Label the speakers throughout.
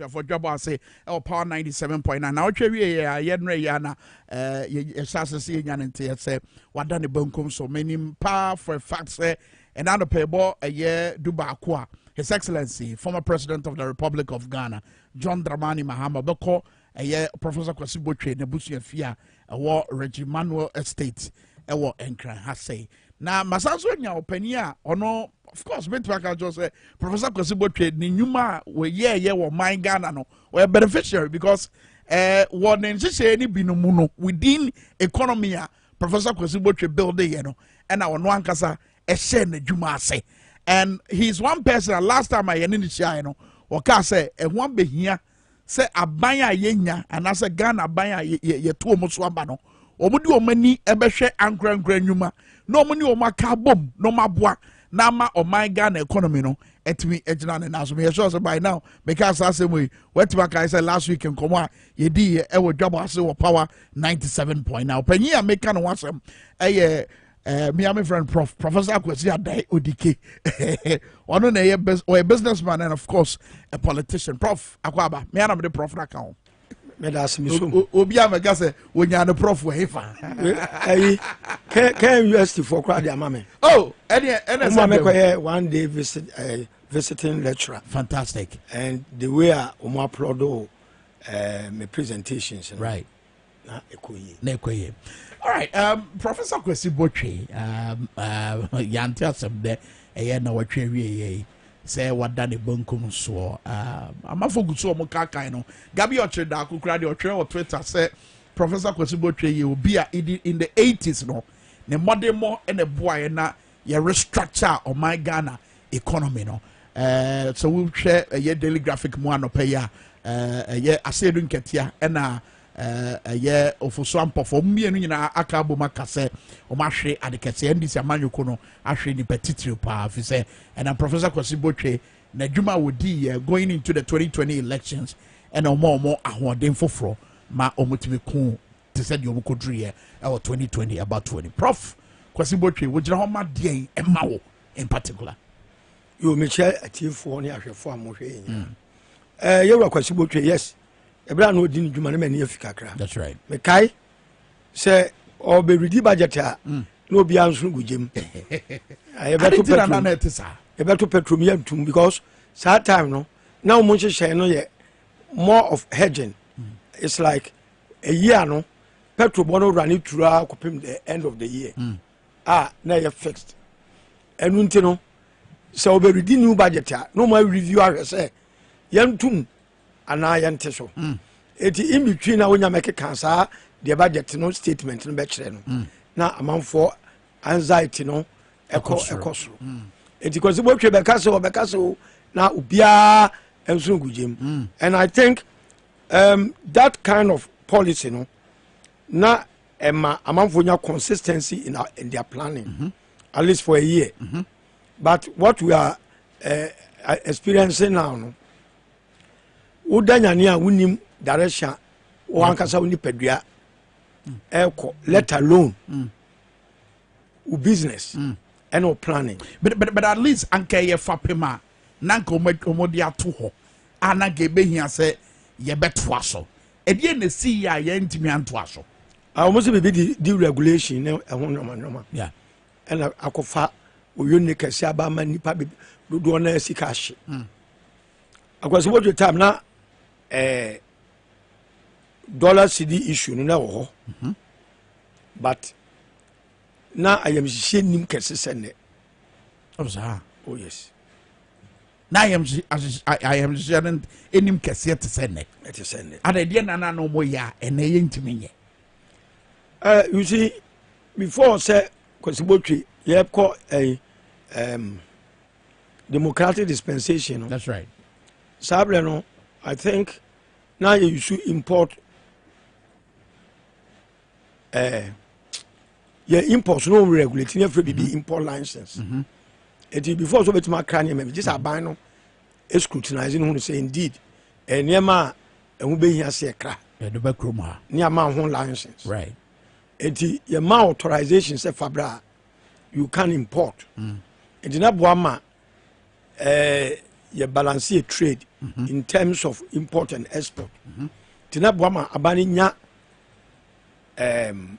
Speaker 1: abusuafoɔ dwabɔ ase ɛwɔ power ninety seven point nine na ɔhwɛ wie yɛ a yɛnrɛ yɛ ana ɛɛ yɛ yɛhyɛ ase sɛ yɛnya ne nteɛ sɛ wada ne bankum so menim paa for a fact sɛ ɛna anɔpɛ ɛbɔ ɛyɛ du baako a his excellency former president of the republic of ghana john dramani mahama bɛkɔ Ɛyɛ Professor Kwasi Botwe n'abusuafie a ɛwɔ Reggie Manuel Estate ɛwɔ Nkran ha sɛe. Na masan so anya ɔpanin a ɔno of course bɛtumi aka kyerɛ sɛ Professor Kwasi Botwe ne nnwuma a wɔyɛɛyɛ wɔ man Ghana no ɔyɛ beneficiary because eh, wɔ ne nhyehyɛeɛ no bi no mu no within economy a Professor Kwasi Botwe buildeyɛ no ɛna ɔno ankasa ɛhyɛ n'adwuma ase and he is one person a last time a yɛne ne hyiaeɛ no wɔkaa sɛ ɛho abɛhia sɛ aban a yɛnya anaasɛ ghana aban a yɛto wɔn so aba no wɔn de wɔn ani bɛhwɛ ankorankora nnwuma na wɔn ne wɔn aka abom na wɔn aboa na ama ɔman ghana economy no ɛtumi gyina ne nan so meyɛ sure sɛ by now meka asa asɛm yi wɔatumi aka sɛ last week nkɔmɔ a yɛdi yɛ ɛwɔ dwabɔ ase wɔ power ninety seven point now panyin a meka ne ho asɛm ɛyɛ Uh, me and my friend Prof. Professor Akwesi Adai Odike. One of the businessman and of course a politician. Prof. Akwaba. Me and the Prof. Nakao. meda ase me som obi a mɛka sɛ wɔnya ne prɔf wɔ hefa ayi kɛ
Speaker 2: university foɔ koraa de ama me oh ɛne
Speaker 1: ɛne sɛ mekɔyɛ
Speaker 2: one day visit uh, visiting lecturer fantastic and
Speaker 1: the way
Speaker 2: a wɔn applaud o uh, my presentations no right na ɛkɔ yie na ɛkɔ yie
Speaker 1: alright um, professor kwasi botwe um, uh, yɛante asɛm dɛ ɛyɛ na wɔtwe awieɛ yi sɛ wada ne bankum soɔ um, amafo gu so ɔmo kaakan no gabi ɔkyere daako kora deɛ ɔtwerɛ wɔ twitter sɛ professor kwasi botwe yɛ obi a in the 80s no ne mmɔdemmɔ na ɛboaeɛ na yɛ restructure ɔman ghana economy no ɛɛ sɛ wohwɛ ɛyɛ daily graphic mu anɔpɛ yi a ɛɛ ɛyɛ aseedu nkɛtea ɛna ɛɛ ɛyɛ ofoso ampɔfo wɔn mmienu nyinaa aka abom aka sɛ wɔn ahwe ade kɛse ndc amanyɔko no ahwe nipa titiri paa fi sɛ ɛna professor kwasi botwe n'adwuma a wɔdi yɛ going into the 2020 elections ɛna wɔn a wɔn ahoɔden foforɔ ma wɔn tumi kuu te sɛ deɛ wɔkɔduruiɛ ɛwɔ 2020 abatoɔ ni prof kwasi botwe wogyina hɔ ma deɛn ɛma wo in particular yo mekyɛ
Speaker 2: atiefoɔ ne ahwɛfoɔ a mohwɛ yɛ nyina eh, yɛwura kwasi botwe yes ɛberɛ a na ɔdi ne dwuma no mani afi kakra mekae sɛ ɔbɛredi budget a mm. na obiara nso gu gyam yɛbɛto petrom yɛntom because saa time no na wɔn nhyehyɛe no yɛ more of hedging mm. it's like ɛyi ano petrol bɔ no rane turu a kɔpem the end of the year mm. a na ɛyɛ fixed ɛno nti no sɛ wɔbɛredi new budget a na ɔma review ahwɛ sɛ yɛntom anaa yɛnte so mm. ɛti in between na wonya mɛkeka saa deɛ budget no statement no bɛkyerɛ no mm. na amanfoɔ anxiety no ɛkɔ ɛkɔ soro ɛti mm. kɔsi bɔtwe bɛka sɛ wɔbɛka sɛ o na obiara nso ngu gyem and i think Um, that kind of policy no na ɛma amanfoɔ nya consistency in, our, in their planning mm -hmm. at least for a year mm -hmm. but what we are uh, experiencing now no woda nyane a wonim direction wankasa wo nipadua ɛkɔ mm. let alone mm. wo business ɛne mm. wo planning but, but, but at least
Speaker 1: anka ɛyɛ fapem a na anka wɔde ato hɔ a na anka ebehia sɛ yɛbɛtoa so. Ɛdeɛn na esii a yɛntumi antoa so? Ah, wɔn nso biribi de
Speaker 2: deregulation ne ɛho nneɛma nneɛma. Yeah. ɛna
Speaker 1: akɔfa
Speaker 2: oyo ne kɛse aba ama nipa be dodoɔ na sika ahye mm. akwasi wodwe time na eh, dollar cd issue no na wɔ hɔ mm-hmm. but na ayamhyehyeɛ nim kɛse sɛ nnɛ Oh, saa. Oh, yes.
Speaker 1: na ayamhyehyeɛ no anim kɛseɛ te sɛ nnɛ ɛte sɛ nnɛ ada ɛdeɛ nana no ɔmɔ yɛ a ɛnɛ yɛ ntumi nyɛ uh, you see
Speaker 2: before sɛ kwasibotwe yɛkɔ ɛyi eh, um, democratic dispensation no that's right
Speaker 1: saa berɛ no
Speaker 2: i think na yɛyusu import uh, yɛ import no wɔn regulate ne afiri bibi mhm. import license mhm. eti before so betuma akra nneɛma bi gye sɛ aban no scrutinize ne ho no sɛ indeed eh, nneɛma a ɛho behia sɛ ɛkra ɛde bɛ kurom ha
Speaker 1: ne ama ho license
Speaker 2: right
Speaker 1: eti yɛ
Speaker 2: ma authorization sɛ fabra you can import mm. eti na boa ma ɛɛ eh, yɛ balance yɛ trade mm-hmm. in terms of import and export mm-hmm. tina boa ma aban nya ɛɛm. Um,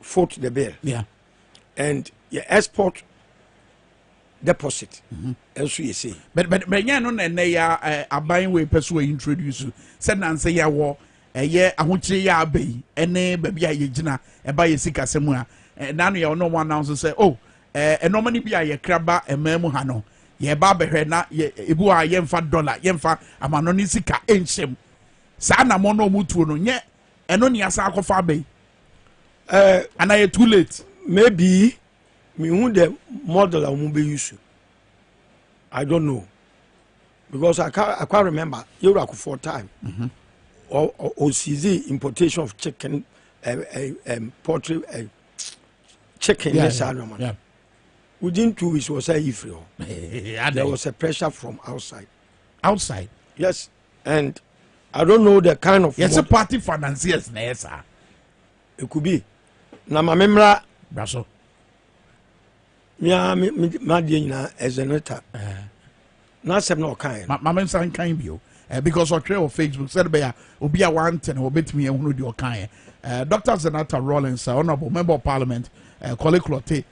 Speaker 2: foot the bill yeah.
Speaker 1: and
Speaker 2: yɛ export deposit mm-hmm. nso yɛ sei bɛnyɛ no na
Speaker 1: ɛnɛ yɛ eh, aban wei pɛ so introduce sɛ nansɛ yɛwɔ ɛyɛ ahokyere yɛ aba yi ɛne baabi a yɛgyina ɛba yɛ sikasɛm a eh, nano yɛ ɔno ɔmo announce sɛ oh eh, ɛnɔɔma no bi a yɛkra ba ɛmaa mu ha no yɛba abɛhwɛ na ebu a yɛmfa dɔla yɛmfa amano ne sika nhyɛm saa anamɔ no ɔmo tuo no nyɛ ɛno ne asa akɔfa aba yi eh, ana yɛ too late maybe
Speaker 2: mehu the model a wɔn bɛ use i don't know because i can't, I can't remember yɛwura for time ɔsizi mm-hmm. importation of chicken uh, uh, um, poultry uh, chicken yeah, ne saa nɔɔma no within two weeks wɔ sɛ yi firi hɔ there was a pressure from outside outside
Speaker 1: yes
Speaker 2: and i don't know the kind of. yɛsɛ party financiers
Speaker 1: na ɛyɛ saa. it could
Speaker 2: be na ma me mmra. bra so.
Speaker 1: mia
Speaker 2: madeɛ nyinaa ɛzeneta n'asɛm na ɔkae no mame nsa nkan bio
Speaker 1: eh, because ɔtwerɛ wɔ facebook sɛde bɛyɛ a obi a wante no wɔbɛtumi ahunu deɛ ɔkaeɛ eh, dr zenata rollins eh, honorable member of parliament kɔle clote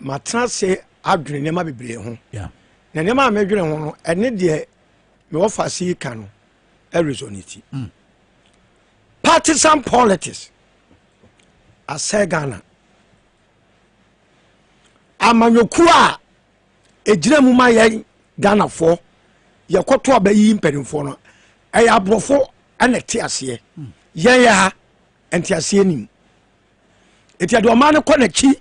Speaker 2: matena ase adwene nneɛma bebree ho na nneɛma
Speaker 1: a medwene
Speaker 2: ho no ɛne deɛ mewɔ fa ase yi ka no ɛresonate mm. partisan politics asɛ ghana amanyɔkuo a ɛgyina mu ma yɛn ghanafoɔ yɛkɔto a bɛyi mpanimfoɔ no ɛyɛ aborɔfo ɛna ɛte aseɛ mm. yɛn yɛ ha ɛnte aseɛ nim eti ɛde ɔman no kɔ n'akyi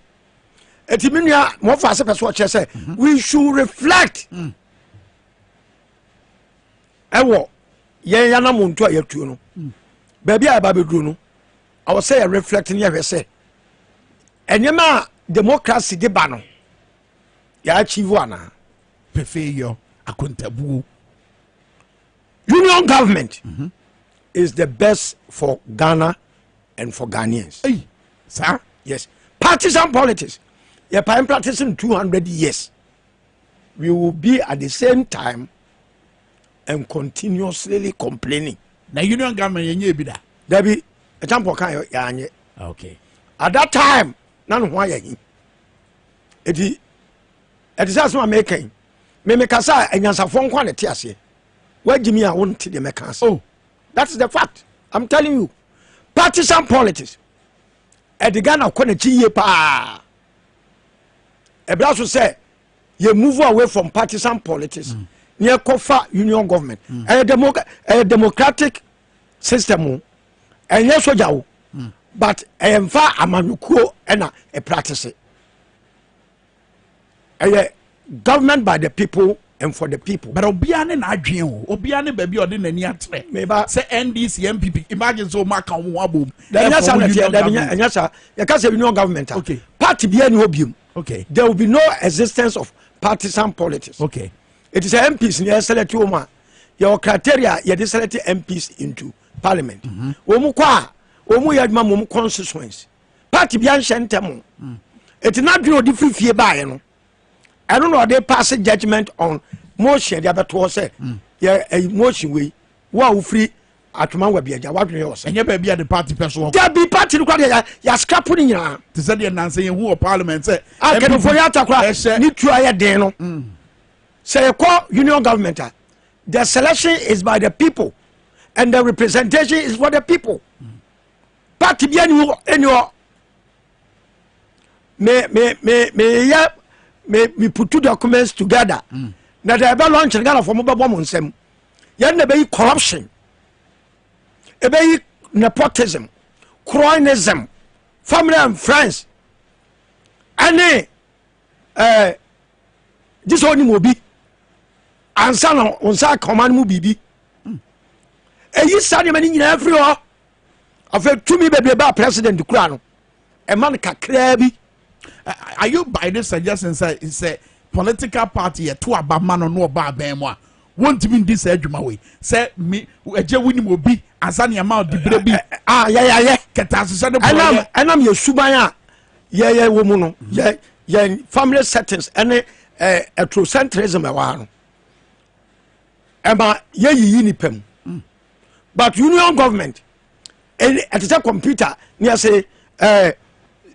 Speaker 2: eti mi nua mo fa ase pɛ so ɔkyerɛ sɛ mhm. we should reflect mm. ɛwɔ yɛn yanam nto a yɛtuo no mm. baabi a yɛba bɛduro no ɔwɔ sɛ yɛ reflect ne yɛhwɛ sɛ nneɛma a democracy de ba no yɛakyivo anaa pefeeyɔ
Speaker 1: akontabuo
Speaker 2: union government mm -hmm. is the best for ghana and for ghanaians hey.
Speaker 1: sir yes
Speaker 2: partisan politics yɛ pa practicing 200 years we will be at the same time and continuously complaining na union government
Speaker 1: yɛnyɛ ebi da dabi ɛtampɔ
Speaker 2: kan yɛanyɛ okay
Speaker 1: at that
Speaker 2: time na ne ho ayɛ he ɛti ɛte sɛ asɛm a meka yi memekasa a anyansafoɔ nkwa ne te aseɛ Wagye me a wonte deɛ mɛka ase. Oh, that's the fact. I'm telling you. Partisan politics. Ɛde Ghana kɔ n'akyi yie paa. Ɛbra so sɛ yɛ move away from partisan politics. Mm. Ne ɛkɔfa union government. Mm. Ɛyɛ demo ɛyɛ democratic system o. Ɛnyɛ soja o. Mm. But ɛyɛ nfa amanyɔkuo ɛna ɛpractice. ɛyɛ government by the people and for the people. bẹ̀rẹ̀ obiara ne n'adwene
Speaker 1: o obiara ne baabi a ɔde n'ani akyerɛ. meba sɛ ndc npp imagine sɛ ɔmo aka ɔmo ho abom. ɛnyɛ sa na tiɛ dɛbi
Speaker 2: ɛnyɛ sa yɛ ka sɛ union government a okay. party bi ɛni
Speaker 1: hɔ biom
Speaker 2: okay. there will be no existence of partisan politics. okay. it is
Speaker 1: mps
Speaker 2: ni yɛ select wɔn a yɛ wɔ criteria yɛ de select mps into parliament. wɔn kɔ a wɔn yɛ adwuma mu wɔn constituency. part bia nhyɛ ntɛm o ɛti na adwene ɔde firi fie baeɛ no ɛno na ɔde pass judgment on motion de abɛtoɔ sɛ mm. yɛ eh, motion wei wo a wofiri atwoma wa bi agya wadwene yɛ ɔsɛ ɛnyɛ baabi a de party
Speaker 1: pɛ soɔ dabi party no kora deɛ
Speaker 2: yɛaskrapo no nyinaa te sɛ deɛ nansɛ yɛhu
Speaker 1: wɔ parliament sɛ a kanimfoɔ yɛ atakora
Speaker 2: ne tua yɛ den no mm. sɛ yɛkɔ union government a the selection is by the people and the representation is for the people mm. party bi ɛni hɔ ɛni hɔ me me me me yɛ me me put two documents together mm. na de ɛbɛ launch no ghana fɔ mo bɛ bɔ mo nsɛm yɛn na ɛbɛyi corruption ɛbɛyi nepotism cronism family and friends ɛne ɛɛ gye sɛ ɔnim obi ansa na wɔn nsa aka ɔman mu biribi mm. ɛyi saa nneɛma no nyinaa firi hɔ. afei tumi bebree baa president kura no ɛma no kakraa bi. are
Speaker 1: you by the suggestion sɛ sɛ political party yɛ to aba ma no no ɔba abɛn mu a wontumi ndi saa adwuma wei sɛ mi ɛgye wonim obi ansa ne ɛma ɔdibire bi a yɛyɛyɛ
Speaker 2: kɛtɛ ahyehyɛ ne bɔyɛ
Speaker 1: ɛnam yɛ suban
Speaker 2: a yɛyɛ wɔ mu no yɛ yɛn family settings ɛne ɛɛ eh, ethrocentrism ɛwɔ ha no. ɛma yɛyiyi nipa mu mm. but union government ɛte sɛ computer ne ɛse eh,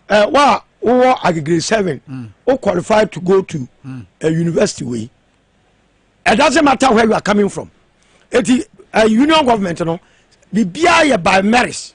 Speaker 2: eh, wa wowɔ agegre seven mm. wo qualify to go to mm. a university wei it doesn't matter where you are coming from eti uh, union government no biribiara yɛ by merit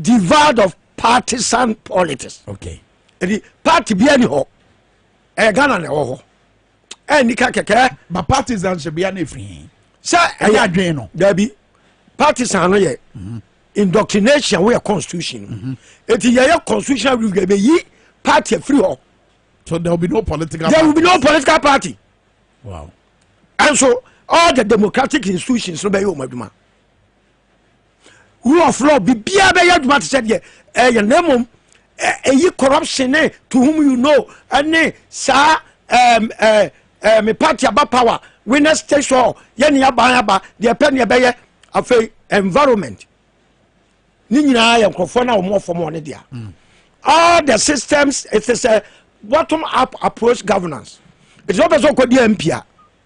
Speaker 2: devoid of partisan politics okay. ɛdi
Speaker 1: party
Speaker 2: bia ni hɔ ɛyɛ eh, ghana na ɛwɔ hɔ ɛnni eh, ka kɛkɛ ba partisan hyɛ
Speaker 1: bia na ɛfiri sɛ ɛyɛ adwene
Speaker 2: no daabi partisan no yɛ mm -hmm. indoctrination woyɛ constitution no mm -hmm. ɛti yɛyɛ constitutional review ɛbɛyi party afiri hɔ so there will be no
Speaker 1: political there will be no political
Speaker 2: party wow.
Speaker 1: and so
Speaker 2: all the democratic institutions no bɛyɛ wɔn adwuma rule of law biribiara bɛyɛ adwuma te sɛ deɛ ɛyɛ na mmom ɛyi corruption ne to whom you know ɛne saa ɛɛm ɛɛ ɛɛ me party aba power winners takes all yɛ ne aban aba deɛ pɛ ne ɛbɛyɛ afei environment ne nyinaa yɛ nkurɔfoɔ na wɔn fam wɔn ne deɛ mm. all the systems it is a bottom up approach governance ɛti sɛ wopɛ sɛ wokɔdi mp a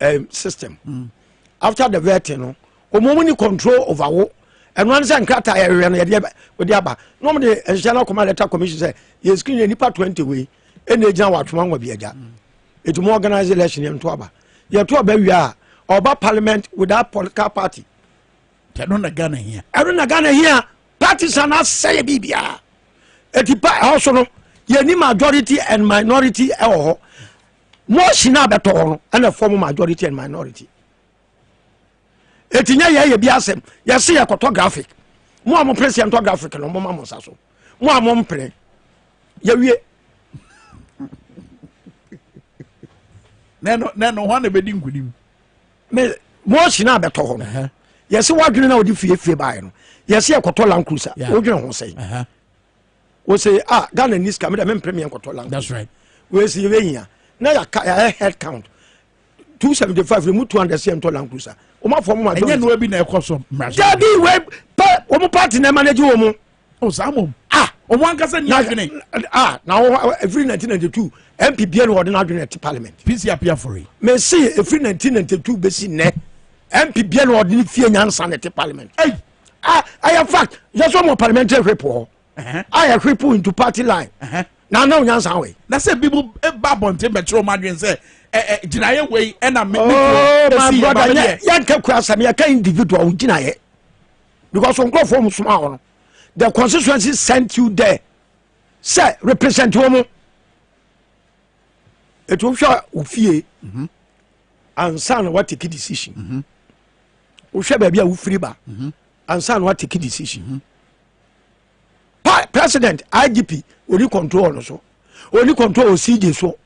Speaker 2: eh, system mm. after the vetting no wɔn mu ni control over wo ɛno ano sɛ nkrataa yɛhwehwɛ no yɛde wɔde aba na wɔn de nhyehyɛ no akɔma letter commission sɛ yɛ screen yɛ nipa twenty wei ɛna egyina wɔ atwoma nwa bi agya etu mu organize election yɛn to aba yɛ to aba wia a ɔba parliament without political party. ɛno
Speaker 1: na ghana hia. ɛno na ghana hia
Speaker 2: partisan asɛyɛ biribiara eti pa ɛhɔ so no yɛ ni majority and minority ɛwɔ hɔ. Motion a bɛtɔ hɔ no ɛna form majority and minority. Eti nyɛ yɛ yɛ bi asɛm. Yɛse yɛ kɔtɔ graphic. Mo a mo pene se yɛntɔ graphic no mo ma mo nsa so. Mo a mo mpene. Yɛwie.
Speaker 1: Nɛno nɛno hɔ na bɛdi nkunim. Me
Speaker 2: motion a bɛtɔ hɔ no. Yɛse wadwene na ɔde fiefie baeɛ no. Yɛse yɛ kɔtɔ land cruiser. Wodwene ho sɛn? o se ah ghana ni sika mi dɛ mi mpere mi yɛ nkɔtɔ language that's right wei
Speaker 1: si yɛ hia
Speaker 2: na yɛ ka yɛ head count two seventy five mu two hundred sɛ ntɔ land cruiser wɔn afɔ mu majority ɛnyɛ nua bi
Speaker 1: na ɛkɔ
Speaker 2: so
Speaker 1: mmarasa
Speaker 2: dabi
Speaker 1: wei
Speaker 2: pɛ
Speaker 1: wɔn
Speaker 2: party
Speaker 1: na
Speaker 2: ɛmanage wɔn mu o
Speaker 1: saa mom ah wɔn ankasa ni adwene ah na wɔn
Speaker 2: efiri nineteen ninety two mp bia na wɔde na adwene ɛte parliament pc apia fori
Speaker 1: mɛ si efiri nineteen
Speaker 2: ninety two bɛ si nɛ mp bia na wɔde ne fie nyansa na ɛte parliament. Hey. a ɛyɛ fact yɛsɔ mɔ parliamentary whip hɔ a yɛ whip into party line na ana onyansa wɔ yi. na sɛ bi mu e, ba
Speaker 1: abɔnten bɛkyerɛ ɔmo adwene sɛ ɛ ɛ gyinaeɛ wei ɛna mi mi kuro esi yɛ ba mi
Speaker 2: deɛ. yɛn kɛ kura sɛm yɛ kɛ individual ɔmo gyinaeɛ because nkurɔfoɔ ɔmo soma wɔn the constituency sent you there sɛ represent wɔn etu hwɛ ofie. Mm -hmm. ansa na watake decision mhm. wohwɛ baabi a wofiri ba mhm. ansa na watake decision mhm. pa president igp oni control no so oni control o cj so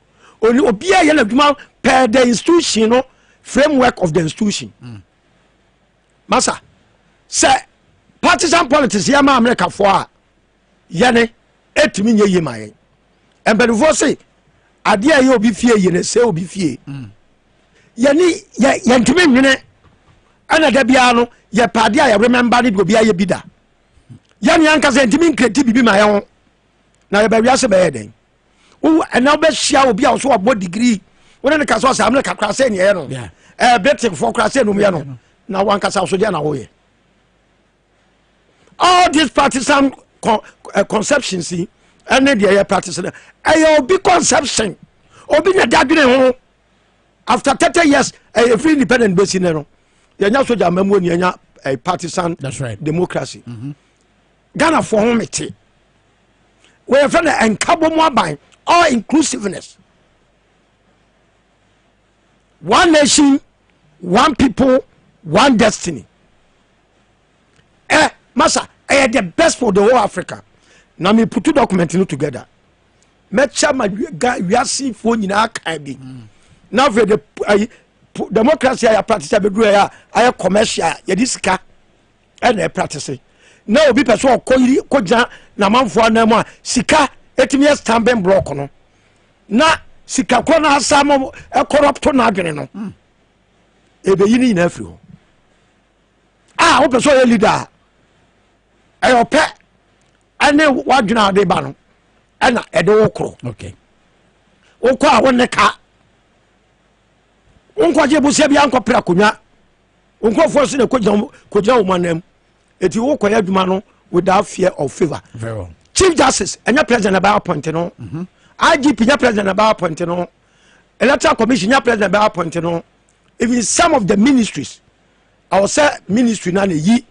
Speaker 2: oni obiara yɛ n'adwuma per the institution no framework of the institution mm. masa sɛ partisan politics yɛ ma amerikafoɔ a yɛne ɛtumi nyɛ yie ma yɛn mpanimfoɔ se adeɛ a ɛyɛ obi fie yie na ɛsɛ obi fie mm. yɛne yɛntumi nwene ɛna da biara no yɛpɛ adeɛ a yɛremɛmba no de obi ayɛ bi da yɛne ankasa yɛntumi nkreti biribi ma yɛn ho na yɛbɛwiase bɛyɛ dɛn ɛna wobɛhyia obi a ɔso ɔbɔ digrii wone ne ka sɛ ɔsɛ amene kakra sɛ neɛyɛ no bɛtefoɔ kora sɛ nomyɛ no na wankasa so deɛ na woyɛ all these partisan con uh, conceptions yi ɛne deɛ yɛ practice no ɛyɛ obi conception obi na dadwene ho after thirty years ɛyɛ free independent bɛsi ne no yɛnya soja amamuo ni yɛnya uh, partisan right. democracy mm -hmm. ghana foɔ ho mete wɔyɛ fɛ no ɛnkabɔ mu aban all inclusiveness one nation one people one destiny ɛ masa ɛyɛ the best for the whole africa na me putu document no together mɛkyɛ ma wiasefoɔ nyinaa kan bi na afei de ayi democracy a yɛapractice a bɛduru a ayɛ commercial yɛde sika ɛna ɛpractice na obi pɛ sɛ ɔkɔ yiri kɔgya n'amanfoɔ anan mu a sika ɛtumi yɛ stambin block no na sika korɔ no asa mo ɛkɔrɔpto no adwene no ɛbɛyi no nyinaa firi hɔ a wopɛ sɛ ɔyɛ leader a ɛyɛ ɔpɛ ɛne wadwene a ɔde ba no ɛna ɛde wo koro
Speaker 1: wokɔ
Speaker 2: a wonne ka wonkɔgye bosia bi ankɔpere akonnwa nkurɔfoɔ so na kɔgyina wo manam ɛti wokɔyɛ adwuma no without fear of favor chief
Speaker 1: justice ɛnyɛ
Speaker 2: president ɛbɛyɛ appoint no mm-hmm. igp nyɛ president ɛbɛyɛ appoint no electoral commission nyɛ president ɛbɛyɛ appoint no even some of the ministries ɛwɔ sɛ ministry na na eyi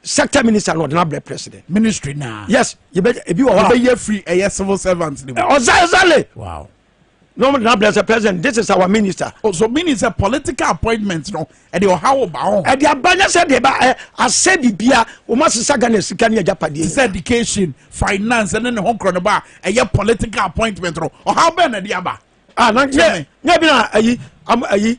Speaker 2: sector minister na ɔde na brɛ president. ministry na. yes
Speaker 1: yɛbɛ ebi wɔ
Speaker 2: hɔ a. yɛbɛ yɛ free ɛyɛ
Speaker 1: civil servant ni mu. ɔza ɛzale.
Speaker 2: wow.
Speaker 1: na ɔmo de na brɛ
Speaker 2: sɛ president this is our minister. o oh, so meaning sɛ
Speaker 1: political appointment no ɛde ɔha wo ba ho. ɛde aba nyɛ sɛ de
Speaker 2: ba ɛ asɛ bibia wɔn asesa ghana sika ne ɛgya padeɛ. sɛ education
Speaker 1: finance ne ne ho korɔ ne ba ɛyɛ political appointment no ɔha bɛn na ɛde aba. ah na nyɛ
Speaker 2: nyɛ bi na ayi ayi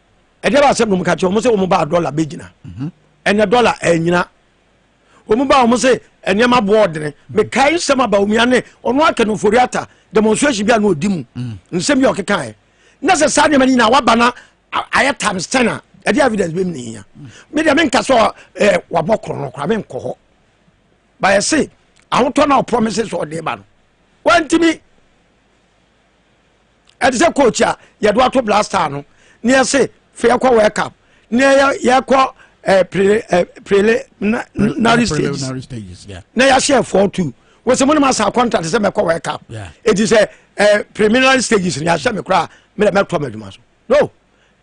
Speaker 2: ɛdɛ ba sɛ nom ka kyerɛ wɔn sɛ wɔn ba dɔla bɛgyina mhm. ɛnɛ dɔla ɛnyina wɔn ba wɔn sɛ nneɛma boɔ ɔdene mekae nsɛm aba wɔn yane ɔno aka no ofori ata demonstration bi a na ɔdi mu mhm. nsɛm bi a ɔkekaeɛ na sɛ saa nneɛma no nyinaa waba na ayɛ times ten a ɛde evidence bɛmi ne hia me deɛ menka sɛ eh, wabɔ korɔ no koraa menkɔ hɔ bayɛ se ahotɔ no a ɔpromise sɛ ɔde ba no wantimi ɛte sɛ coach a yɛde ato blaster no ne yɛse fa yɛkɔ world cup ne yɛkɔ eh, eh, preliminary stages na yɛahyɛ
Speaker 1: four
Speaker 2: two wɔsɛ mo ne ma saa contract sɛ mɛkɔ world cup ɛti sɛ eh, preliminary stages no yɛahyɛ me koraa mɛtɔ m'adwuma so no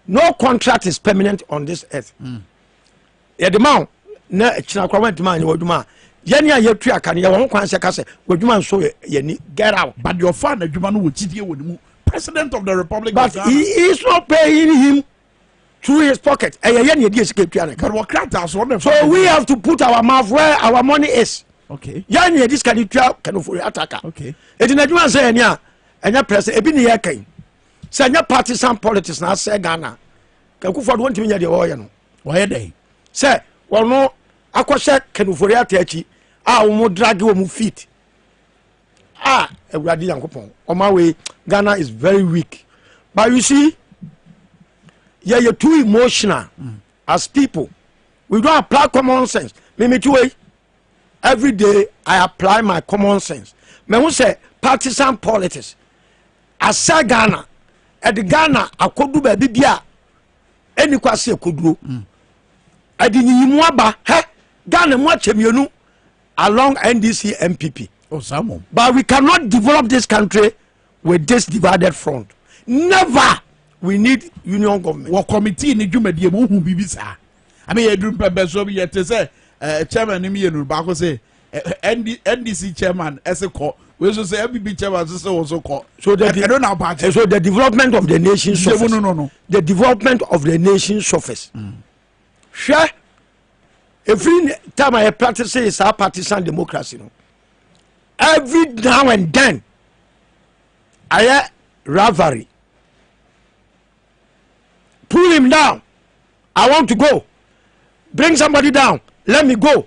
Speaker 2: no contract is permanent on this earth mm. yɛde ma wo na akyina koraa woantumi anyɛ w'adwuma a yɛne a yɛtua ka no yɛwɔ ho kwan sɛ ka sɛ w'adwuma nso yɛni get out but deɛ ɔfaa n'adwuma no
Speaker 1: wɔ gyidie wɔ ne mu president of the republic but he is
Speaker 2: not paying him through his pocket ɛyɛ yɛ ne yɛde sika tua ne ka but wɔkrataa so ɔne so we have to put our mouth where our money is okay yɛn ne yɛde sika no tua kanofo ataka okay ɛti n'adwuma sɛ yɛne a ɛnyɛ president ebi ne yɛ kan sɛ ɛnyɛ partisan politics na asɛ ghana kakufoɔ de wɔntumi nyɛ deɛ wɔyɛ no wɔyɛ dɛn
Speaker 1: sɛ wɔn
Speaker 2: akɔhyɛ kanufori ata akyi a wɔn dragi wɔn feet a awurade yankopɔn ɔma wei ghana is very weak but you see yɛyɛ too emotional mm. as people we don't apply common sense mimiti wei every day i apply my common sense mɛhu sɛ partisan politics asɛ ghana ɛde ghana akɔdu baabi bi a ɛni kɔ ase ɛkɔduro mm. ɛde nyiyimu aba hɛ ghana mu akyɛ mmienu along ndc mpp oh, but
Speaker 1: we cannot
Speaker 2: develop this country with this divided front never we need union government. wɔ committee ni dwumadie
Speaker 1: mu ohun biribi saa ɛmi yɛ duru mpɛmpɛnso bi yɛ te sɛ ɛɛ chairman ni mi yɛ nuru baako sɛ NDC chairman ɛsɛ kɔ wei nso sɛ NPP chairman nso sɛ wɔn nso kɔ so the ɛno na ɔba
Speaker 2: akyɛ so the
Speaker 1: development of the
Speaker 2: nation suffers no no no the development of the nation suffers mm. hwɛ efiri time a yɛ practice saa partisan democracy no every now and then ayɛ rivalry pull him down i want to go bring somebody down let me go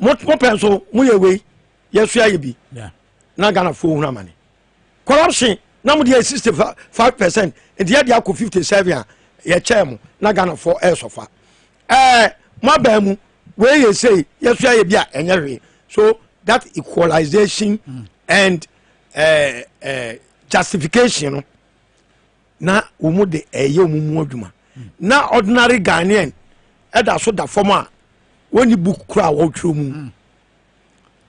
Speaker 2: mopɛ nso moyɛ wei yɛsua yɛ bi na
Speaker 1: ghanafoɔ
Speaker 2: hunu amane corruption na mode yɛ 65 percent nti yɛde akɔ 57 a yɛkyɛɛ mo na ghanafoɔ ɛresɔfa ɛɛ moabaa mu wei yɛ sei yɛsua yɛ bi a ɛnyɛ hwee so that equalization mm. and uh, uh, justification no na wɔn mu de ɛyɛ wɔn mu adwuma na ordinary ghanaian ɛda so da fam a wɔnni book kora a wɔretwerɛ mu mm.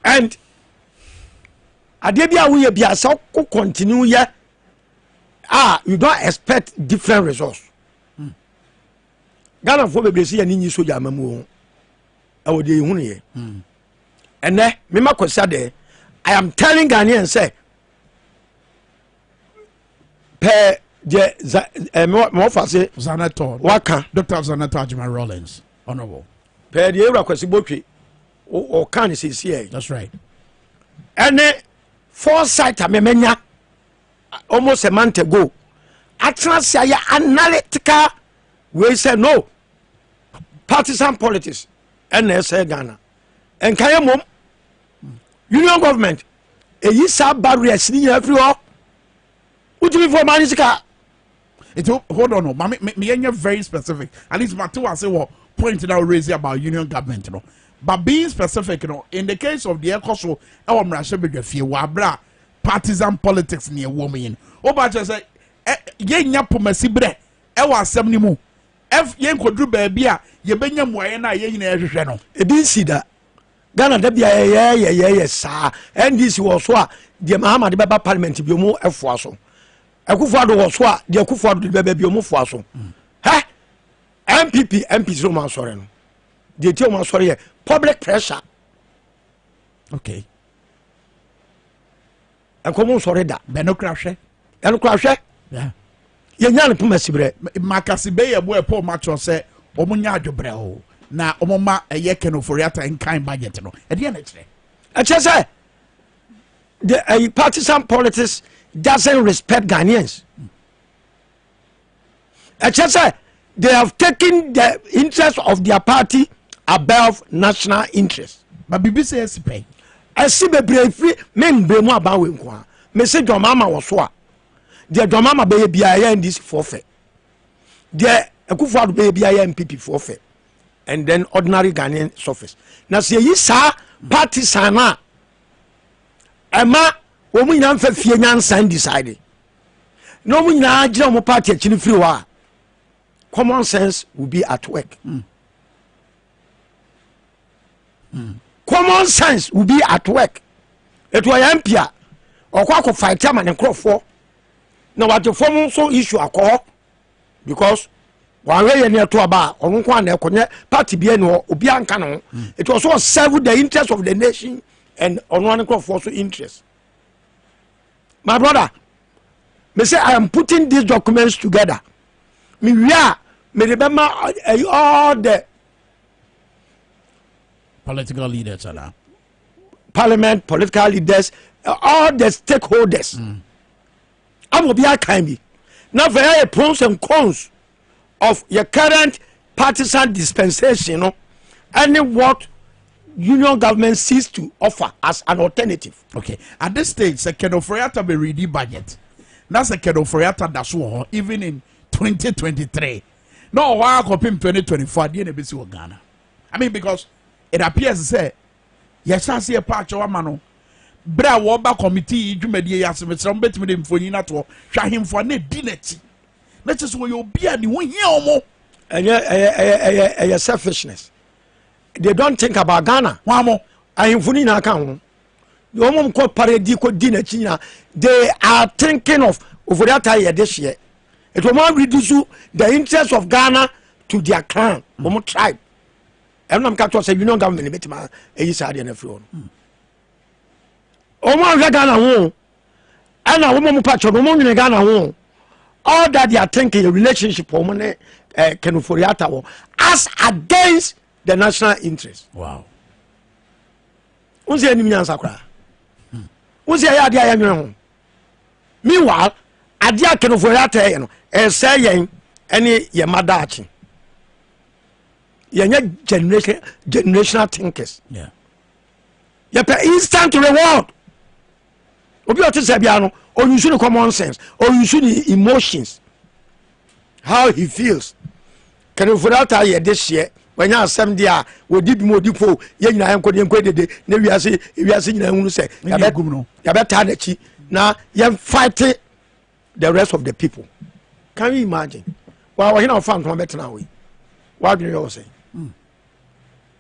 Speaker 2: and adeɛ bi a woyɛ bi a sɛ wokɔ continue yɛ a you don't expect different results mm. ghanafoɔ bebree sɛ yɛne nyi sogya ama mu ho ɛwɔ deɛ yɛhunu yɛ mm. ɛnɛ mema kwasi adɛ i am telling ghanaian sɛ pɛ deɛ za ɛɛ mɛ mɛ fa se. zanetɔ waka.
Speaker 1: dr
Speaker 2: zanetɔ ajima
Speaker 1: rollins honourable. pɛ deɛ ewura
Speaker 2: kwasi botwe ɔka ne sisi yɛ. that's right.
Speaker 1: ɛne
Speaker 2: foresight amemenya almost a month ago atena se ayɛ analytical wei sɛ no partisan politics ɛna ɛsɛ ghana nka yɛ mom union government ɛyi saa barriers ne nyinaa firi hɔ wotumi fɔ ɔmaa ne sika nti
Speaker 1: hold on ma meyɛnyɛ very specific at least mate wo ase wɔ point na raise about union government no but being specific no in the case of deɛ ɛkɔ so ɛwɔ mmarahyɛ badwa fie wɔ abera partisan politics ne ɛwɔ mu yi no woba kyerɛ sɛ yɛnya pomasi berɛ ɛwɔ asɛm no mu yɛnkɔduru baabi a yɛbɛnya mmuaeɛ no a yɛn nyinaa hwehwɛ no ɛdi nsi da
Speaker 2: Ghana da bia yɛyɛ yɛyɛ yɛ saa NDC wɔ so a deɛ Mahama de bɛba parliament bi ɔmo ɛfoa so Akufo Addo wɔ so a deɛ Akufo Addo de bɛba bi ɔmo foa so hɛ NPP MP sɛ ɔmo asɔre no deɛ ti ɔmo asɔre yɛ public pressure
Speaker 1: okay.
Speaker 2: ɛkɔm nsɔre da bɛ no kora
Speaker 1: hwɛ ɛno kora hwɛ yɛnya no
Speaker 2: poma siberɛ makase bɛyɛ bo
Speaker 1: ɛpɔ ɔma kyerɛ sɛ ɔmo nya adwobrɛ o na ɔmo ma ɛyɛ kenofori ata nkan budget no ɛdeɛ na ɛkyerɛ ɛkyerɛ sɛ
Speaker 2: the uh, partisan politics doesn't respect Ghanaians. ɛkyɛ sɛ they have taken the interest of their party above national interest ba biribi sɛ asi
Speaker 1: pɛn ɛsi bebree
Speaker 2: firi me mbrɛ mu aban wei nko a mese dwamama wɔ so a deɛ dwamama bɛyɛ biara yɛ ndc foɔ fɛ deɛ akufo ado bɛyɛ biara yɛ npp foɔ fɛ and then ordinary ghanaian surface na sɛ yɛyi saa partisan a ɛma wɔn nyinaa nfa fie nyansa decide na wɔn nyinaa gyina wɔn party akyi no firi hɔ a common sense will be at work mm. Mm. common sense will be at work etu ɔyɛ mpi a ɔkɔ akɔ fight ama ne nkorɔfoɔ na wagye fam nso issue akɔ because wàhwɛ yɛ ni ɛto aba a ɔno nko ana ɛkɔ nyɛ party bi ɛni hɔ obi anka ne ho mm. it was all serve the interest of the nation and ɔno ankorɔfoɔ so interest. my brother me say i am putting these documents together me wie a me de bɛma ɛyi all the
Speaker 1: political leaders ana
Speaker 2: parliament political leaders all the stakeholders mm. ama obi akan bi na afei ɛyɛ pros and cons of yɛ current partisan dispensation no ɛne what union government sees to offer as an alternative. okay at this
Speaker 1: stage sɛ kɛnɛ oforiata bɛ ready budget na sɛ kɛnɛ oforiata da so wɔ hɔ even in twenty twenty three na ɔwɔ hɔ akɔpem twenty twenty four adeɛ na ebesi wɔ ghana i mean because it appears sɛ yɛhyɛ ase yɛ pa akyɛw ama no bere a wɔba kɔmitii dwumadie yi ase mesrɛ mo bɛtumi de mfonyin atoɔ hwɛ ahemfo a na ɛdi n'akyi na kyerɛ sɛ wɔyɛ obi a ne ho hia wɔn. ɛnyɛ ɛyɛ ɛyɛ
Speaker 2: ɛyɛ ɛyɛ selfishness they don't think about ghana. wɔn amɔ. ahemfo
Speaker 1: no nyinaa
Speaker 2: ka ho wɔn mu kɔ pare di kɔ di n'akyi nyinaa they are thinking of ofori ata yɛ de seɛ etu wɔn awi di so the interest of ghana to their clan wɔn tribe ɛnam ka tɔ sɛ union government bɛ tuma eyi saa deɛ n'afiri wɔn wɔn ahwɛ ghana ho ɛna wɔn mu pakyɛ no wɔn nwene ghana ho all that they are thinking yɛ relationship wɔn ne eh, kenoforiata wɔ as against the national interest.
Speaker 1: Wow.
Speaker 2: n sɛ ɛnim nyansa koraa n sɛ ɛyɛ adeɛ a yɛnwene ho meanwhile adeɛ a kenoforiata yɛ no ɛsɛ yɛn ɛne yɛn ma daakye yɛnyɛ generation generational thinkers. Yeah. yɛpɛ instant reward. obi a ɔte sɛ biara no ɔyusu ne common sense ɔyusu ne emotions how he feels kɛnɛfo de ata yɛ de hyeɛ wɔanya asɛm deɛ a wɔdi bi mu ɔdi po yɛ nyinaa yɛnkɔ ne yɛnkɔ dede ne wiase wiase nyinaa hunu sɛ yɛbɛtaa n'akyi na yɛmfate the rest of the people can you imagine wa wɔhene a wɔfa ntoma bɛtena hɔ yi wadwene yɛ wɔ sɛ hmm.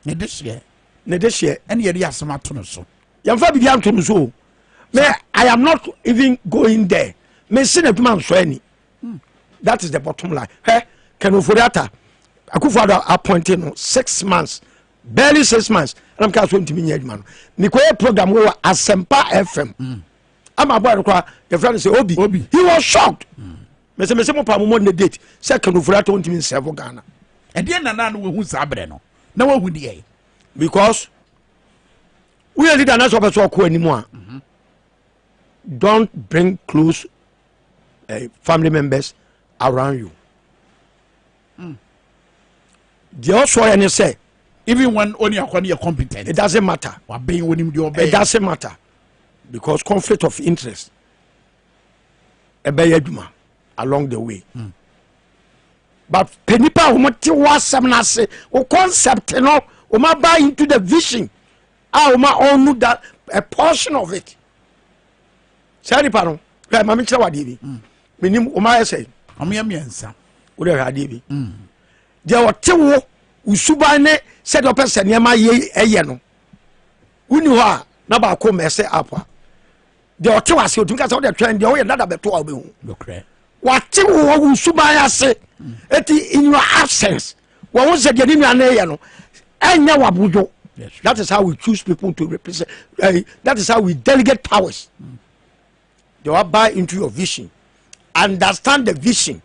Speaker 1: ne de hyeɛ ne de hyeɛ ɛne
Speaker 2: yɛde asɛm ato no
Speaker 1: so yɛn fa bibi anto no
Speaker 2: so o me i am not even going there me se na adwuma nsɔ ani hmm. that is the bottom line hɛ kɛnofori ata akufo ado appointing no six months barely six months ɛna meka so ntumi nyɛ adwuma no mekɔyɛ program wɔ asɛmpa fm mm. ama bɔɛ no koraa yɛfrɛ no sɛ obi. obi he was shocked mm. mese mese mo pa momɔ ne date sɛ kanofura tɔ ntumi nsɛvo ghana ɛdeɛ nana
Speaker 1: no wahu saa berɛ no na wahu deɛ because
Speaker 2: woyɛ leader na sɛ ɔpɛ sɛ ɔkɔ anim a mhm. don't bring close uh, family members around you hmm. deɛ ɔsɔ yɛ ne sɛ even when only
Speaker 1: akɔni yɛ competent it doesn't matter wabɛn
Speaker 2: onim deɛ ɔbɛn it doesn't matter because conflict of interest ɛbɛyɛ adwuma along the way mm. but pɛ nipa a wɔn te wɔ asɛm no ase o concept no wɔn aba into the vision a wɔn a ɔnu that a portion of it saa nipa no ɛ maame kyerɛ wadeɛ bi mm. menim wɔn ayɛ sɛ wɔn yɛ mmiɛnsa
Speaker 1: wɔn yɛ adeɛ
Speaker 2: bi mm. deɛ ɔte wo osuban ne sɛdeɛ ɔpɛ sɛ nneɛma yɛ ɛyɛ no. wonni hɔ a na baako mɛsɛ app a deɛ ɔte wɔ ase otumi ka sɛ wode twɛn deɛ woyɛ dada bɛto a wobɛhu
Speaker 1: wate wo wɔ
Speaker 2: wo suban ase ɛti mm. in your absence wɔn ho sɛ deɛ ne nua no yɛ no ɛnyɛ wabodwo that is how we choose people to represent uh, that is how we delegate powers mm. they will buy into your vision understand the vision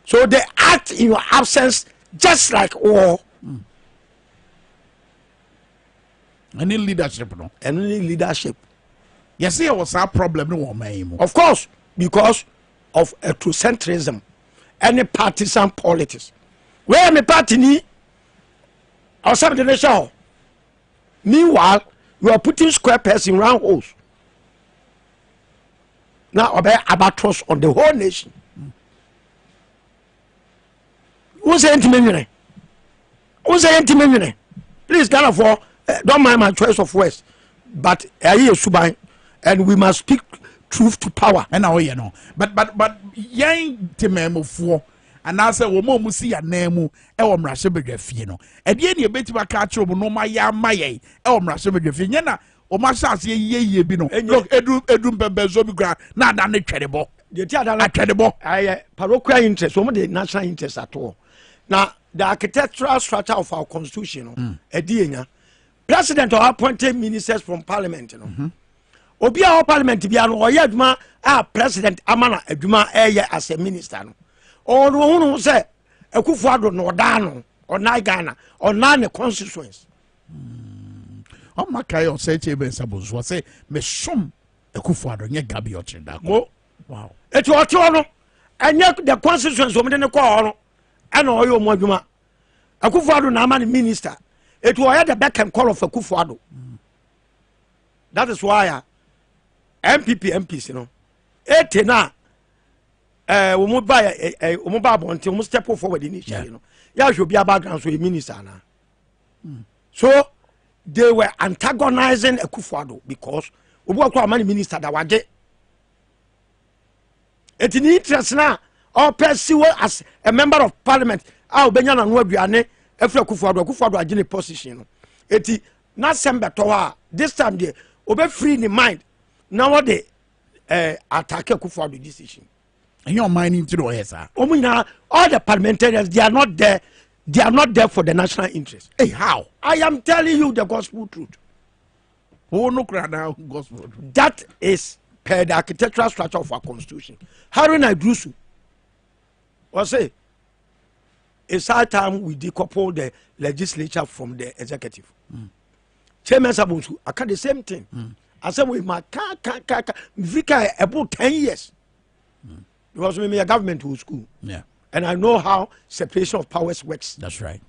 Speaker 2: so they act in your absence just like war. Mm.
Speaker 1: ɛne leadership no ɛno ne leadership
Speaker 2: yɛsɛ
Speaker 1: yɛwɔ saa problem no wɔ ɔman yi mu of course
Speaker 2: because of ethnocentrism ɛne partisan politics wei me party ni ɔsɛm de ne hyɛ hɔ meanwhile you are putting square pegs in round holes na ɔbɛyɛ abatros on the whole nation wo sɛ yɛntumi nwene wo sɛ yɛntumi nwene please ghanafoɔ eh, don't mind my choice of words but ɛyɛ yɛ suban and we must speak truth to power ɛna woyɛ no but
Speaker 1: but but yɛn temaamufoɔ anaasɛ wɔn a wɔn si anan mu wɔ mmarahyɛbadwa fie no ɛdeɛ ne ebetumi aka akyerɛ wɔn nneɛma yɛ ama yɛn wɔ mmarahyɛbadwa fie nyɛ na wɔn asase yie yie bi no look edu edu mpɛmpɛnso bi kura na ada ne twɛdebɔ
Speaker 2: atwɛdebɔ. ɛyɛ
Speaker 1: parochial
Speaker 2: interest wɔn de national
Speaker 1: interest
Speaker 2: ato na the architectural structure of our constitution no mm. ɛdi yɛ nya president or appointed ministers from parliament no. Mm -hmm obi a wɔ parliament bia no ɔyɛ adwuma a president ama na adwuma ɛyɛ as a minister no ɔno ɔhunu sɛ akufo ado na ɔdaa no ɔnan ghana ɔnan ne constituents
Speaker 1: Mm. Ɔma kae ɔsɛ kye bɛ nsa bonso ɔsɛ mesom akufo ado nyɛ gabi ɔkyere da kɔ. Wow. Eti ɔte hɔ no
Speaker 2: ɛnyɛ the constituents wɔn de ne kɔɔ hɔ no ɛna ɔyɛ wɔn adwuma. Akufo ado na ama ne minister. Eti ɔyɛ the beck and call of akufo ado. Mm. That is why uh, MPP MPs no ete na eh, wɔn ba eh, eh, wɔn ba abɔnten wɔn step forward ne hyɛ no yɛ ahwɛ obi a background so yɛ minister anaa. mm. so they were antagonizing akufuado because obi wɔ kora ɔma ne minister da wagye ɛti ne interest no a ɔpɛ si wɔ as a member of parliament a ɔbɛnya nano aduane afiri akufuado akufuado agye ne position no ɛti n'asɛm bɛtɔ hɔ a this time deɛ ɔbɛfiri ne mind na wɔde eh, attack akufuado decision ɛnyɛ ɔman no
Speaker 1: nti na ɔyɛ saa. wɔn nyinaa all the
Speaker 2: parliamentarians they are not there they are not there for the national interest. Hey, how i am
Speaker 1: telling you
Speaker 2: the gospel truth. owó
Speaker 1: no kura na gospel truth. that is
Speaker 2: per the architectural structure of our constitution harry naidurusu ɔsè it's high time we decouple the legislature from the executive. Mm. sɛ mɛsa bɔ nsu aka the same thing mm. asɛm wei ma ka ka ka ka mfiri ka ɛbo ten years mm. because me meyɛ government wɔ school yeah. and i know
Speaker 1: how
Speaker 2: separation of powers works that's right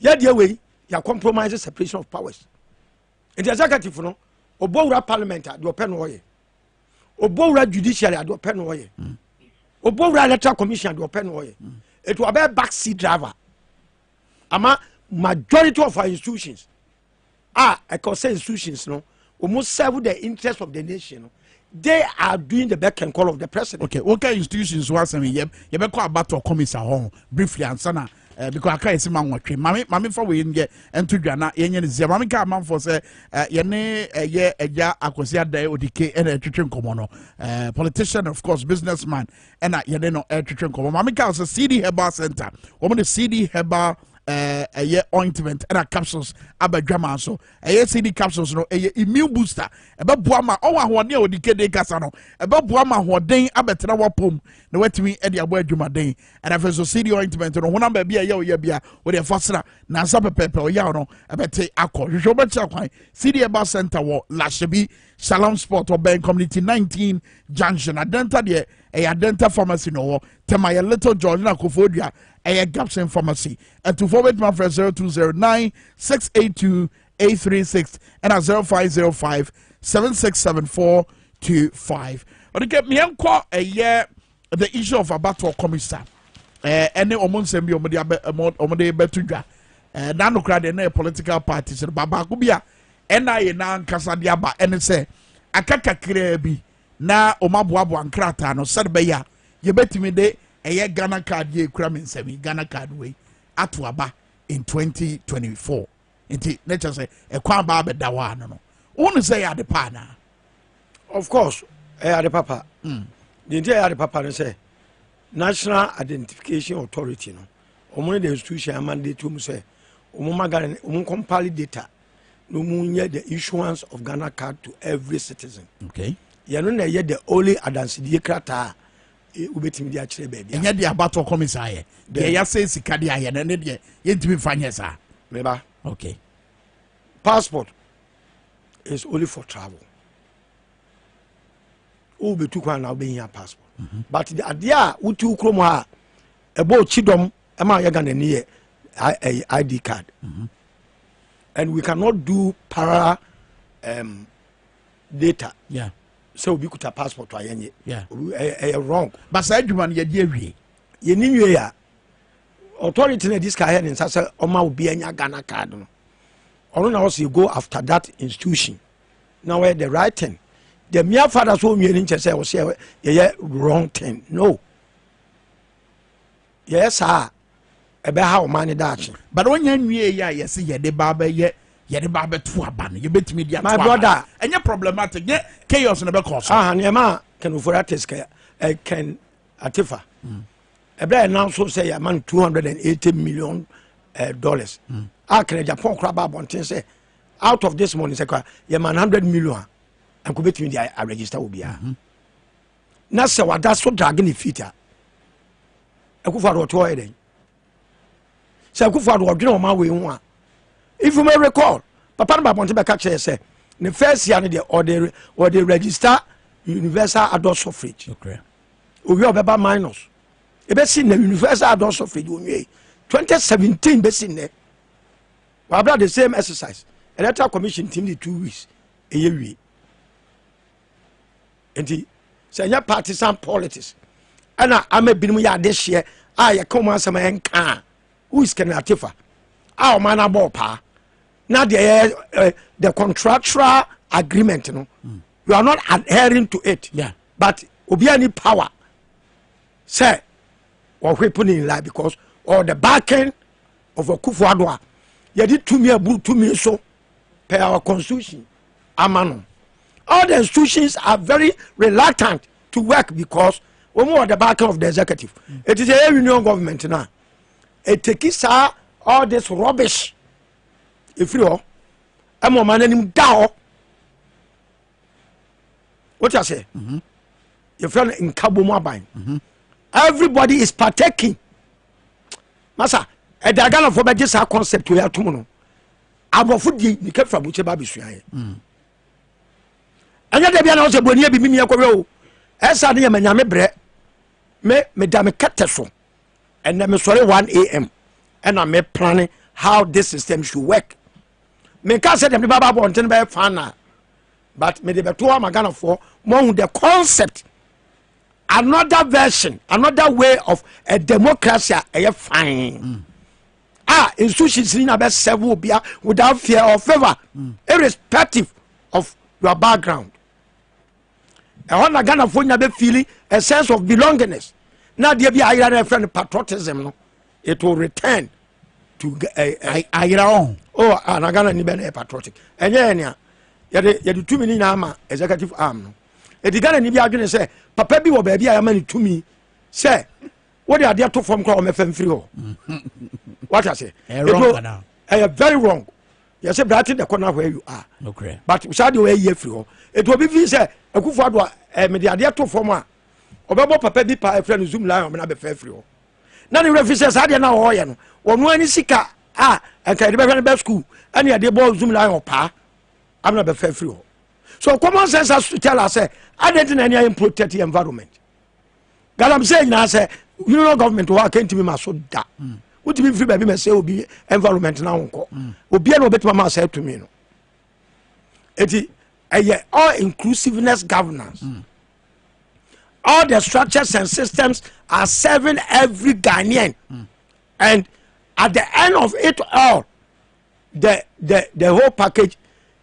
Speaker 1: yɛdeɛ wei
Speaker 2: yɛ compromise separation of powers nti executive no ɔbɔ wura parliament a deɛ ɔpɛ no ɔyɛ ɔbɔ wura judiciary a deɛ ɔpɛ no ɔyɛ ɔbɔ mm. wura electoral commission a deɛ ɔpɛ no ɔyɛ ɛti mm. ɔbɛyɛ back seat driver ama majority of our institutions a ɛkɔ sɛ institutions no wɔn serve the interest of the nation no they are doing the back and call of the president. okay wọn kẹ institutions wa
Speaker 1: sẹmi yẹ yẹ bẹ kọ abatọ kọmisa hɔ briefly ansana ẹ bikọ aka yẹ si ma wọn twe maame maame fa wei yẹ ẹnto dwa na yẹ nyẹ ne zia maame ka amanfo sẹ ẹ yẹ ne ẹ yẹ ẹja akwasi adan odike ẹna ẹtwitwi nkɔmɔ no ẹ politician of course business man ɛna yɛne no ɛretwetwe nkɔmɔ maame kaa sɛ cd herbal center wɔn de cd herbal ɛyɛ eh, eh, ointment ɛna capsules aba dwama so ɛyɛ eh, cd capsules no ɛyɛ immune booster ɛbɛboa ma ɔwɔ ahoɔden a wɔde kede kasa no ɛbɛboa ma ahoɔden abɛtena wɔpom na wɔatumi ɛde abɔ adwumaden ɛna afei so cd ointment no honam baabi a ɛyɛ ɔyɛ bia wɔde ɛfa sra nansa pɛpɛɛpɛ ɔyɛ no ɛbɛte akɔ hwehwɛ wɔbɛkyerɛ kwan cd ɛba center wɔ lahyɛbi Shalom Sport ɔbɛn community nineteen junction adɛnta deɛ ɛyɛ adɛnta pharmacy na ɔwɔ tɛma yɛ little george na kofo dua ɛyɛ gapson pharmacy ɛtufoɔ bɛtumi afrɛ zero two zero nine six eight two eight three six ɛna zero five zero five seven six seven four two five ɔde kɛ mmiɛnkɔ ɛyɛ the issue of abatoɔ kɔmisa ɛɛ eh, ɛne wɔn nsɛm bi wɔn de abɛ wɔn de bɛto dwa ɛɛ eh, n'anokora deɛ ɛna yɛ political parties no ba baako bi a ɛna yɛ n'ankasa de aba ɛne sɛ aka kakraa bi na wɔn aboaboa nkrataa no sɛde bɛyɛ a yɛbɛtumi de ɛyɛ ghana card yɛ ekura mi nsɛm yi ghana card wei ato aba in twenty twenty four. nti ne kyɛ sɛ ɛkwan baa bɛda hɔ ano no wo ne sɛ ɛyɛ ade pa anaa of
Speaker 2: course ɛyɛ ade papa hmm. deɛ nti ɛyɛ ade papa no sɛ national identification authority no wɔn ne the institution amandate mu sɛ wɔn ma ghana wɔn compile data na wɔn nyɛ the issuance of ghana card to every citizen okay yɛn no
Speaker 1: na ɛyɛ the
Speaker 2: only adansidie krataa Eh, wobɛtumi de akyerɛ baabi ɛnyɛ deɛ abatoɔ kɔme
Speaker 1: saa yɛ deɛ yɛasɛ sika de ayɛ no ne deɛ yɛntumi mfa nyɛ saa meba okay passport
Speaker 2: is only for travel wobɛtu kwan na wobɛhia passport mm -hmm. but adeɛ a wotu kurom hɔ a ɛbɔ kyidɔm ɛma yɛ ghana ni yɛ id card mm -hmm. and we cannot do para um, data yeah. sɛ
Speaker 1: obi kuta
Speaker 2: passport a yɛnyɛ ɛyɛ
Speaker 1: wrong
Speaker 2: ba saa adwuma no
Speaker 1: yɛde awie yɛni nwie a
Speaker 2: authority na ɛdi sika yɛ ne nsa sɛ ɔma obi anya ghana card no ɔno na ɔsɛ go after that institution na wɔyɛ the right thing the mere father so onwie ne nkyɛ sɛ ɔsɛ yɛyɛ wrong thing no yɛyɛ saa a ɛbɛha ɔman no daakye. but ɔnyɛ nwie
Speaker 1: yi a yɛsi yɛde ba abɛyɛ yɛde ba abɛto aba no yɛbɛtumi di ato aba my brother ɛnyɛ
Speaker 2: problematic
Speaker 1: nyɛ chaos na bɛkɔ so.
Speaker 2: aha nneɛma kɛnufori atis kɛ ɛkɛn atifa ɛbɛrɛ yɛ nan so sɛ yɛ ama no two hundred and eighty million eh, dollars mm. a kɛnɛ japan kora ba abɔnten sɛ out of this money sɛ kora yɛ ma no hundred million a nkɔ bɛtumi di a register obiara. Mm -hmm. na sɛ wada so drage ne feet a akufo ado ɔtoɔ yɛ dɛn sɛ akufo ado ɔdwene ɔma wei ho a if you may recall papa no baabɔnte bɛka kyerɛ sɛ ne first year no deɛ ɔde ɔde register universal adult suffrage owie ɔbɛba minus ebesi na universal adult suffrage onwie 2017 besi nnɛ wabra the same exercise electoral commission team de two weeks eye wie. nti sɛ ɛnyɛ partisan politics ɛna ama binom yɛ adehyeɛ a yɛka wɔn asɛm a ɛnka a who is Kenneth Atefa a ɔman no abɔɔ paa na deɛ yɛ eh, the contractual agreement no mm. you are not adhering to it yeah. but obi ani power sɛ wɔhwe po ne nyinaa because or the backing of Akufo-Addo a yɛde tumi aburu tumi so per our constitution ama no all the institutions are very reluctant to work because wɔn wɔ the back of the executive it is a union government na eteki saa all this rubbish efiri hɔ ɛma ɔman n'anim da hɔ wote aseɛ mhm. yɛfrɛ no nkabom aban mhm. everybody is partaking masa ɛda ghanafoɔ bɛgye saa concept wei atom no aborɔfo die ne kɛfa mu kyɛ ba bɛsuaeɛ mm. ɛnyɛ da bia na wo sɛ bɔniɛ bi memiɛ kɔhwɛ o ɛsa ne yɛ manyame berɛ me meda me kɛtɛ so ɛnɛ mesɔre 1am ɛna meplane how this system should work menka sɛ deɛ mede baba abɔnten bɛyɛ fana but mede bɛto ama ghanafoɔ moahu the concept another version another way of a democracy a ɛyɛ fine mm. a nsu sisi na bɛ sɛ wo bia without fear or favor mm. irrespective of your background ɛhɔ na ghanafoɔ nya bɛ feeling a sense of belongingness na adeɛ bi ayera no ɛfrɛ no patriotism no it will return to ayera ɔho oh ah, na ghana ni bɛ na yɛ patriotic ɛnyɛ yɛ nea yɛde yɛde tumi ni nyinaa ma executive arm no ɛdi ghana ni bi adwene sɛ papa bi wɔ baabi a yɛama ne tumi sɛ wode adeɛ to fam koraa wɔmɛfa mfiri hɔ wate ase ɛyɛ very wrong yɛsɛ brate dɛ kɔ no where you are but saa deɛ wɔayi afiri hɔ ɛti obi fii sɛ akufo ado a eh, mede adeɛ to fam a ɔbɛbɔ papa bi pa ɛfrɛ no zoom lion mena bɛfa afiri hɔ na ne werɛ fi sɛ saa deɛ no a wɔyɛ no wɔno ani sika a ɛnka yɛde bɛhwɛ no bɛ school ɛne yɛde bɔ zoom lion paa amena bɛfa afiri hɔ so common sense has to tell us sɛ adɛn nti na ɛne ayɛ protect environment galamsey nyinaa sɛ unional government hɔ a kɛntumi ma so da mm. wotumi mfiri baabi ma sɛ obi environment na wonkɔ mm. obia na obɛtumi ma saa tumi no ɛti ɛyɛ all inclusiveness governance mm. all the structures and systems are serving every ghanaian mm. and at the end of it all the the the whole package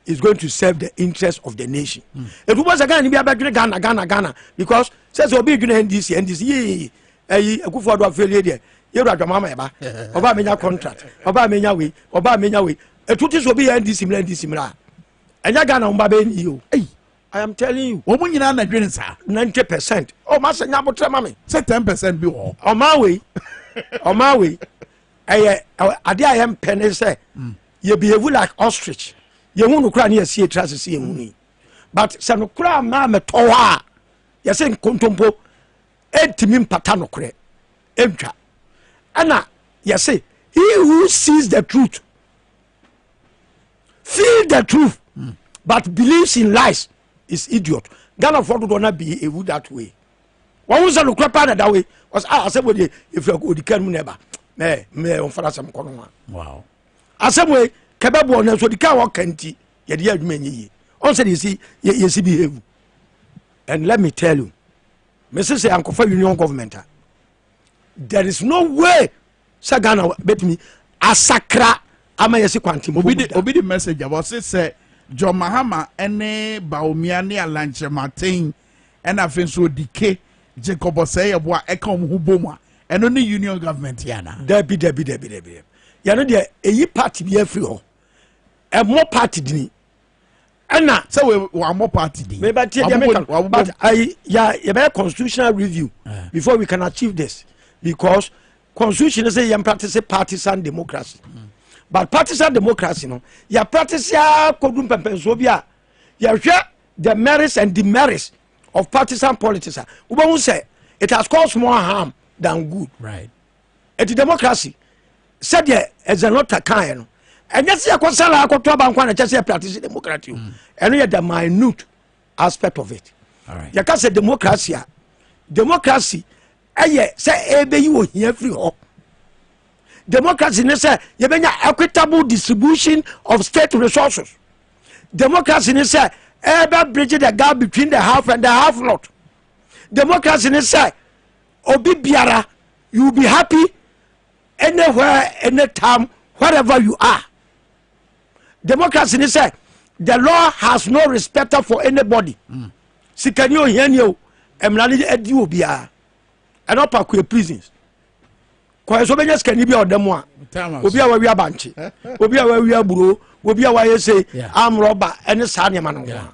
Speaker 2: is going to serve the interest of the nation etu bɔ sɛ ghana ni bi abɛdwene ghana ghana ghana because sɛ sɛ obi dwene ndc ndc yii ɛyi ekufu ado afeelie deɛ yɛrɛ adwama ama ɛba ɔba a menya contract ɔba a menya wei ɔba a menya wei etu ti sɛ obi yɛ ndc mìíràn ndc mìíràn ɛnyɛ ghana wɔn ba bɛ ni o eyi i am telling you wɔn nyinaa na dwene saa ninety percent ɔma sɛ nya abotire ma mi sɛ ten percent bi wɔ hɔ ɔma wei ɔma wei ɛyɛ adeɛ a yɛmpɛ ne sɛ mm. yɛ behave like ostrich yɛhu no koraa ne yɛsie tra sese yɛhu no yi but sɛ no koraa maa mɛtɔ hɔ a yɛsɛ nkontompo ɛntumi mpata nokorɛ ɛntwa ɛna yɛse he who sees the truth feel the truth mm. but believes in lies is idiot ghanafoɔ dodoɔ no be ewu that way wɔn sɛ nokorɛ paa na da wei wɔsɛ a ah, asɛm wɔ deɛ ɛfiri akɔ ɔdi kan mu na ɛba mɛ mɛ ɔmfa no asɛm kɔ no ho a asɛm wei kɛbɛboɔ nanso ɔdi kan wɔka nti yɛde yɛ adwuma ɛnyɛ yie ɔn sɛ yɛsi yɛsi behave and let me tell you mese sɛ ankɔfa union government a there is no way sɛ ghana bɛtumi asakra ama yɛsi kwante obi de obi de message
Speaker 1: aba ɔse sɛ john mahama ne baomia ne alankyerɛ maten ɛna afei nso odike jacob ɔsɛe yɛbo a ɛka wɔn ho bom a ɛno ne union government yɛ anaa dabi dabi dabi dabi
Speaker 2: yɛno deɛ ɛyi party bi afiri hɔ ɛmmɔ party dini ɛna. sɛ wɔamɔ
Speaker 1: party din. meba tie deɛ meka no but
Speaker 2: ayi ya yɛbɛyɛ constitutional review eh. before we can achieve this because constitution sɛ yɛn practice partisan democracy mm. but partisan democracy no yɛ practice a kodu mpɛmpɛnsoɔ bi a yɛhwɛ the merits and demerits of partisan politics a wobɛhu sɛ it has caused more harm than good. Right.
Speaker 1: ɛti democracy
Speaker 2: sɛdeɛ ɛzɛnɔta kaeɛ no ɛnyɛ sɛ yɛkɔ sala akɔto abankɔ a na kyɛ sɛ yɛpractice democracy o ɛno yɛ the minute aspect of it yɛka sɛ
Speaker 1: democracy
Speaker 2: a democracy ɛyɛ sɛ ɛbɛyi ohia firi hɔ democracy ne sɛ yɛbɛnya equitable distribution of state resources democracy ne sɛ ɛbɛ bridge the gap between the half and the half not democracy ne sɛ obi biara you be happy anywhere anytime wherever you are democracy ni sɛ the law has no respect for anybody mm. sikani ohiani o mmara ni adi wɔ biara ɛnɔ pa kue prisons kɔɛ so bɛnya sikani bi a ɔda mu a obi a wawia bankye obi a wawia aburo obi a wayɛ se amrɔba ɛne saa nneɛma no ho a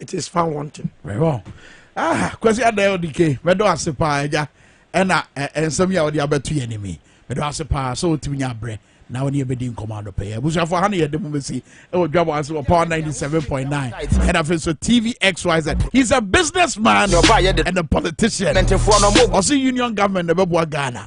Speaker 2: it is found wanting. mɛhɔ
Speaker 1: ah kwasi adan odike mɛdɔ ase paa agya ɛna nsɛm yi a wɔde abɛto yɛn anim yi mɛdɔ ase paa sɛ wotumi nya abrɛ na wɔne yɛbɛdi nkɔmɔ adɔpɛ yɛ abusuafo ha ne yɛde mu bɛsi ɛwɔ dwabɔ ase wɔ power 97.9 ɛna afei nso tvxyz he's a business man and a politician ɔse union government na ɛbɛboa ghana